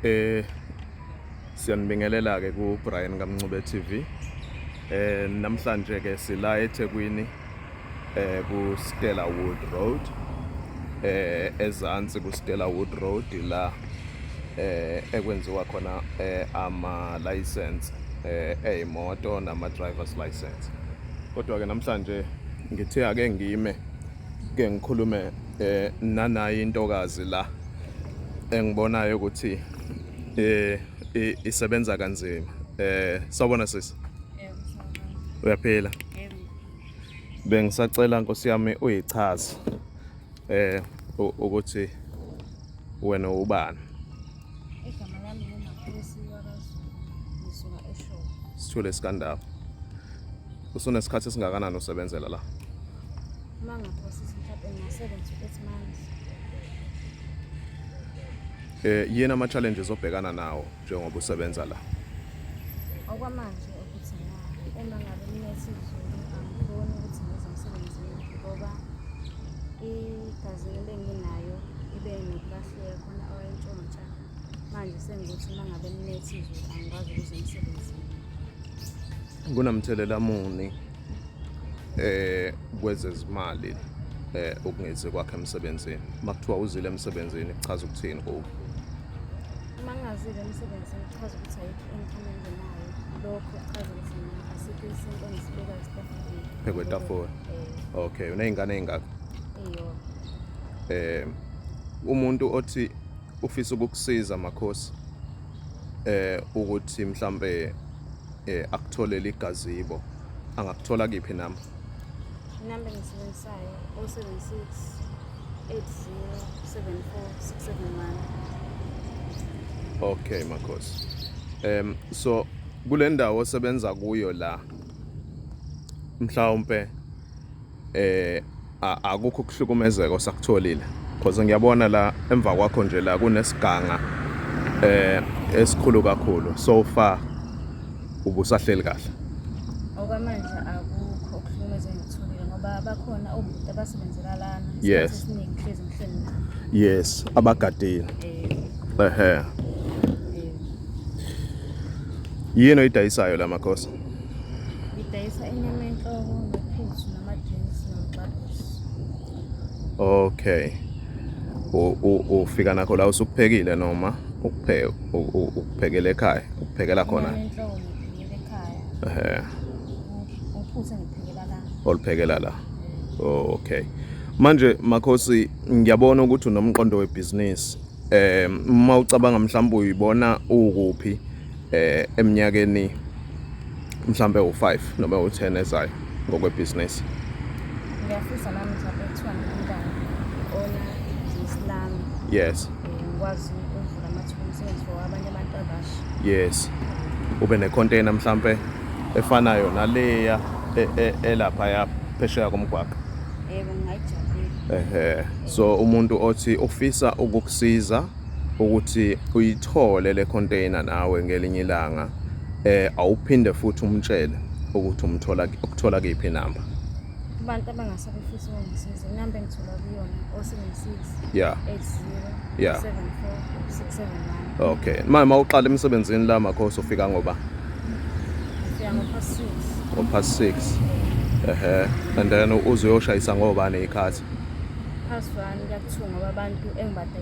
eh siyanibingelela ke ku Brian kaMncube TV eh namhlanje ke sila eThekwini eh ku Stella Wood Road eh ezansi ku Stella Wood Road la eh ekwenziwa khona eh ama license eh eyimoto nama driver's license kodwa ke namhlanje ngithe ake ngime ke ngikhulume eh nanayi intokazi la engibonayo ukuthi eh isebenza kanzima eh sawbona sisi uyaphila bengisacela nkosi yami uyichaze eh ukuthi wena ubani igama lami ngumaphilisi wakaZulu ngisuka eShowe sithule sikandaba usunesikhathi esingakanani usebenzela la uma ngaphosa isikhathi ngasebenza ukuthi manje eh yena ama challenges obhekana nawo njengoba usebenza la okwamanje ukuthi uma ngabe nginesiZulu angikhoni ukuthi ngize emsebenzini ngoba igazi ebenginayo ibe nokulahleka khona awayentshontsha manje sengukuthi uma ngabe ninesiZulu angikwazi ukuze emsebenzini kunamthelela muni eh kwezezimali eh ukungezi kwakhe emsebenzini makuthiwa uzile emsebenzini kuchaza ukuthini kuwe mangazile emsebenzini kuchaza ukuthi ayikho income engenayo lokho kuchaza ukuthi asikho isinto engisibeka esitafuleni phekwe etafula eh. okay uneyingane eyingakho eyo eh umuntu othi ufisa ukukusiza makhosi eh ukuthi mhlambe eh akutholele igazibo angakuthola kiphi nami inamba engisebenzisayo 076 8074671 okay makhosi um so kule ndawo osebenza kuyo la mhlawumpe eh akukho ukuhlukumezeka osakutholile because ngiyabona la emva kwakho nje la kunesiganga eh esikhulu kakhulu so far ubusahleli kahle okwamanje akukho ukuhlukumezeka ngitholile ngoba bakhona obhuti abasebenzela lana yes esiningi hlezi ngihleli nabo yes abagadile eh. ehe eh. yini oyidayisayo la makhosi Ngidayisa inyama enhloko nophuthu nama-drinks nomxabusi. Okay. Ufika nakho la usukuphekile noma ukuphekela ekhaya ukuphekela khona? Inyama enhloko ngiphekela ekhaya. Ehhe. Uphuthu ngiphekela la. Oluphekela la. Oh, okay. Manje Makhosi ngiyabona ukuthi unomqondo webhizinisi. Eh uma ucabanga mhlawumbe uyibona ukuphi eh eminyakeni mhlambe u5 noma u10 ezayo ngokwebhizinisi ngiyafisa nami mhlambe kuthiwa ngimntana ona Islam yes ngikwazi ukuvula amathuba omsebenzi for abanye abantu abasha yes ube ne container mhlambe efanayo naleya e, e, elapha ya phesheya komgwaqo yebo ngayijabulela ehe so umuntu othi ufisa ukukusiza ukuthi uyithole le container nawe ngelinye ilanga eh awuphinde futhi umtshele ukuthi umthola ukuthola kephi number abantu abangase befisa ukungisiza inamba engithola kuyona o76 yeah 80 yeah 74671 okay mama uqala emsebenzini la makhosi ufika ngoba ufika ngopast 6 ngopast 6 ehe and then uzoyoshayisa ngobani ikhathi past 1 kuyakuthunga abantu engibade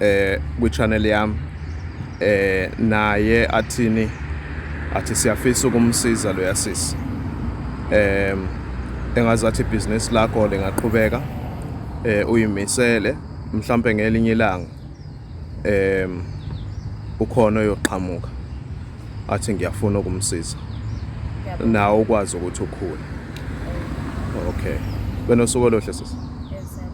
eh kwichannel yami eh naye athini athi siyafisa ukumsiza lo yasisi em engazathi business lakho lingaqhubeka eh uyimisele mhlambe ngelinye ilanga em ukhona oyoqhamuka athi ngiyafuna ukumsiza nawe ukwazi ukuthi ukhule okay benosuku oluhle sisi